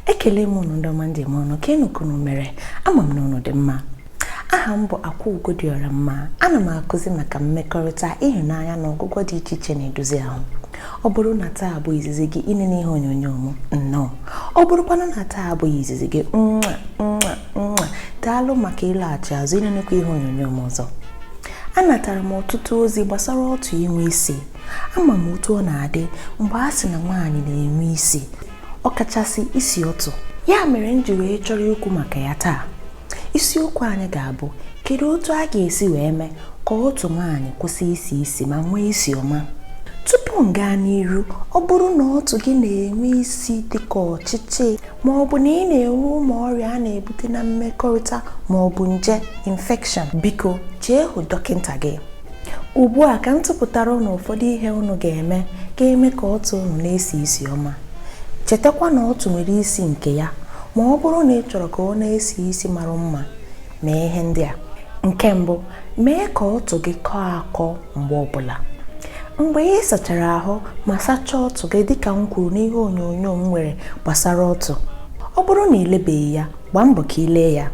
ekele m unu ndị ọma ndị m ọnụ kee nụ ka unu mere ama m na unu dị mma aha m bụ akwa ugo dị ọra mma ana m akụzi maka mmekọrịta ịhụnanya na ọgwụgwọ dị iche iche na-edozi ahụ ọ bụrụ na taa bụ izizi gị inene ihe onyonyo m nnọọ ọ bụrụkwanụ na taa abụghị izizi gị nwa nwa nwa daalụ maka ịlaghachi azụ inenekwa ihe onyonyo m ọzọ anatara m ọtụtụ ozi gbasara ọtụ inwe isi ama m otu ọ na-adị mgbe a sị na nwaanyị na-enwe isi ọkachasị isi ọtụ ya mere m ji wee chọrọ ikwu maka ya taa isiokwu anyị ga-abụ kedu otu a ga-esi wee mee ka ọtụ nwaanyị kwụsị isi isi ma nwee isi ọma tupu m gaa n'iru ọ bụrụ na ọtụ gị na-enwe isi dịka ọchịchị ma ọ bụ na ị na-enwe ụmụ ọrịa a na-ebute na mmekọrịta ma ọ bụ nje infection biko jee hụ dọkịta gị ugbu a ka m tụpụtara ụnụ ụfọdụ ihe ụnụ ga-eme ka e mee ka ọtụ ụnụ na-esi isi ọma chetakwa na ọtụ nwere isi nke ya ma ọ bụrụ na ị chọrọ ka ọ na-esi isi mara mma mee ihe ndị a nke mbụ mee ka ọtụ gị kọọ akọ mgbe ọbụla mgbe ị sachara ahụ ma sachaa ọtụ gị dịka m kwuru n'ihe onyonyo m nwere gbasara ọtụ ọ bụrụ na ị lebeghị ya gbaa mbọ ka ị lee ya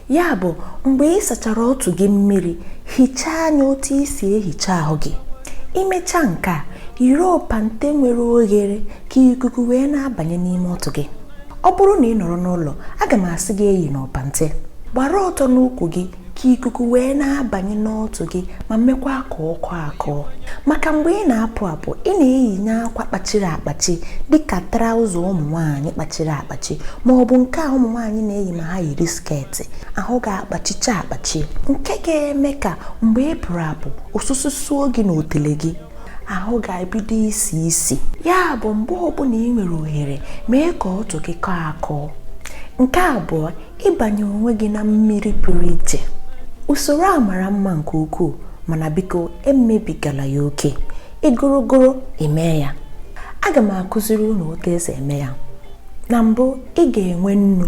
ya bụ mgbe ị sachara ọtụ gị mmiri hichaa anya otu i si ehicha ahụ gị i mechaa nke a yiri ọpante nwere oghere ka ikuku wee na-abanye n'ime ọtụ gị ọ bụrụ na ị nọrọ n'ụlọ aga m asị gị eyina ọpante gbara ọtọ n'ukwu gị ka ikuku wee na-abanye n'ọtụ gị ma mekwa ka ọ kọọ akọ maka mgbe ị na-apụ apụ ị na-eyinye akwa kpachiri akpachi dịka traụza ụmụ nwaanyị kpachiri akpachi ma ọ bụ nke a ụmụ nwaanyị na-eyi ma ha yiri sketị ahụ ga-akpachicha akpachi nke ga-eme ka mgbe ị pụrụ apụ ọsụsọ suo gị na otele gị ahụ ga-ebido isi isi ya bụ mgbe ọbụla ị nwere ohere mee ka ọtụ gị kọọ akọ nke abụọ ịbanye onwe gị na mmiri pụrụ iche usoro a mara mma nke ukwuu mana biko emebigala ya oke ịgụrụgụrụ i mee ya aga m akụziri unu otu e si eme ya na mbụ ị ga-enwe nnu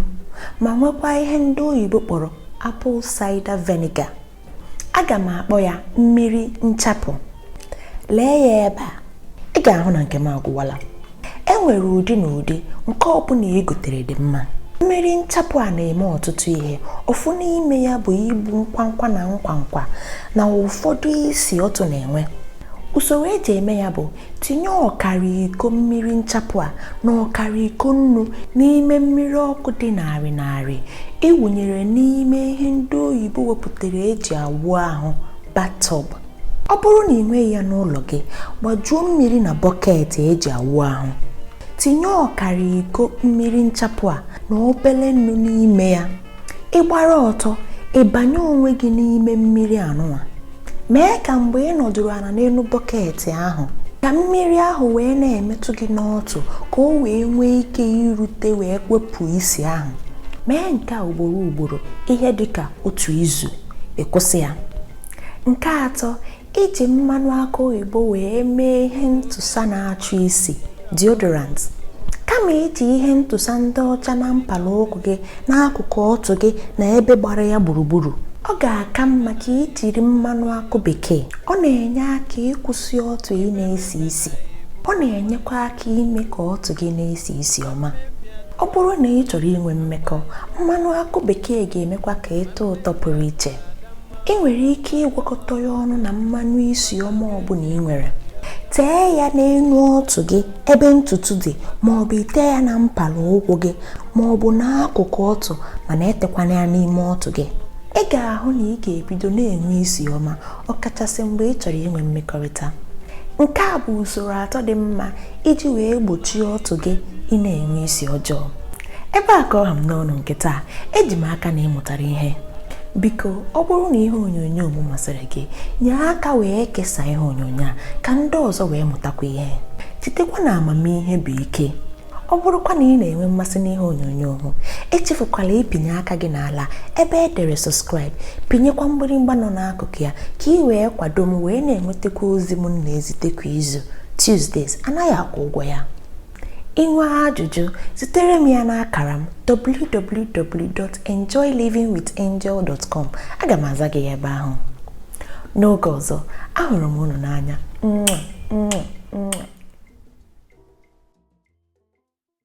ma nwekwa ihe ndị oyibo kpọrọ apple cider vinegar aga m akpọ ya mmiri nchapụ lee ya ebe a ị ga-ahụ na nke m agwụwala e nwere ụdị na ụdị nke ọbụla i gotere dị mma mmiri nchapụ a na-eme ọtụtụ ihe ofu n'ime ya bụ igbu nkwankwa na nkwankwa na ụfọdụ isi ọtụ na-enwe usoro e ji eme ya bụ tinye ọkara iko mmiri nchapụ a na ọkara iko nnu n'ime mmiri ọkụ dị ṅarị ṅarị ị wụnyere n'ime ihe ndị oyibo wepụtara eji awụ ahụ batọb ọ bụrụ na ị nweghị ya n'ụlọ gị gbajuo mmiri na bọket eji awụ ahụ tinye ọkara iko mmiri nchapụ a na obere nnu n'ime ya ị gbara ọtọ ị banye onwe gị n'ime mmiri anụnwa mee ka mgbe ị nọdụrụ ala n'elu bọket ahụ ka mmiri ahụ wee na-emetụ gị n'ọtụ ka o wee nwee ike irute wee wepụ isi ahụ mee nke a ugboro ugboro ihe dị ka otu izu ị kwụsị ya nke atọ iji mmanụ akụ oyibo wee mee ihe ntụsa na-achụ isi deodorant kama iji ihe ntụsa ndị ọcha na mpala ụkwụ gị n'akụkụ ọtụ gị na ebe gbara ya gburugburu ọ ga-aka mma ka ị jiri mmanụ akụ bekee ọ na-enye aka ịkwụsị ọtụ ị na-esi isi ọ na-enyekwa aka ime ka ọtụ gị na-esi isi ọma ọ bụrụ na ị chọrọ inwe mmekọ mmanụ akụ bekee ga-emekwa ka ị tọọ ụtọ pụrụ iche ị nwere ike ịgwakọta ya ọnụ na mmanụ isi ọma ọbụla ị nwere tee ya n'elu ọtụ gị ebe ntutu dị ma ọ bụ i tee ya na mpala ụkwụ gị ma ọ bụ n'akụkụ ọtụ mana etekwana ya n'ime ọtụ gị ị ga-ahụ na ị ga-ebido na-enwe isi ọma ọkachasị mgbe ị chọrọ inwe mmekọrịta nke a bụ usoro atọ dị mma iji wee gbochie ọtụ gị ị na-enwe isi ọjọọ ebe a ka ọ ha m n'ọnụ nke taa eji m aka na ị mụtara ihe biko ọ bụrụ na ihe onyonyo m masịrị gị nye aka wee kesaa ihe onyonyo a ka ndị ọzọ wee mụtakwa ihe chetakwa na amamihe bụ ike ọ bụrụkwa na ị na-enwe mmasị n'ihe onyonyo m echefukwala ịpịnye aka gị n'ala ebe e dere sọskraịb pịnyekwa mgbịrịmgba nọ n'akụkụ ya ka ị wee kwado m wee na-enwetakwa ozi m na-ezite kwa izu Tuesdays anaghị akwụ ụgwọ ya I nwee ajụjụ zitere m ya n'akara m www.enjoylivingwithangel.com aga m aza gị ya ebe ahụ n'oge ọzọ ahụrụ m unu n'anya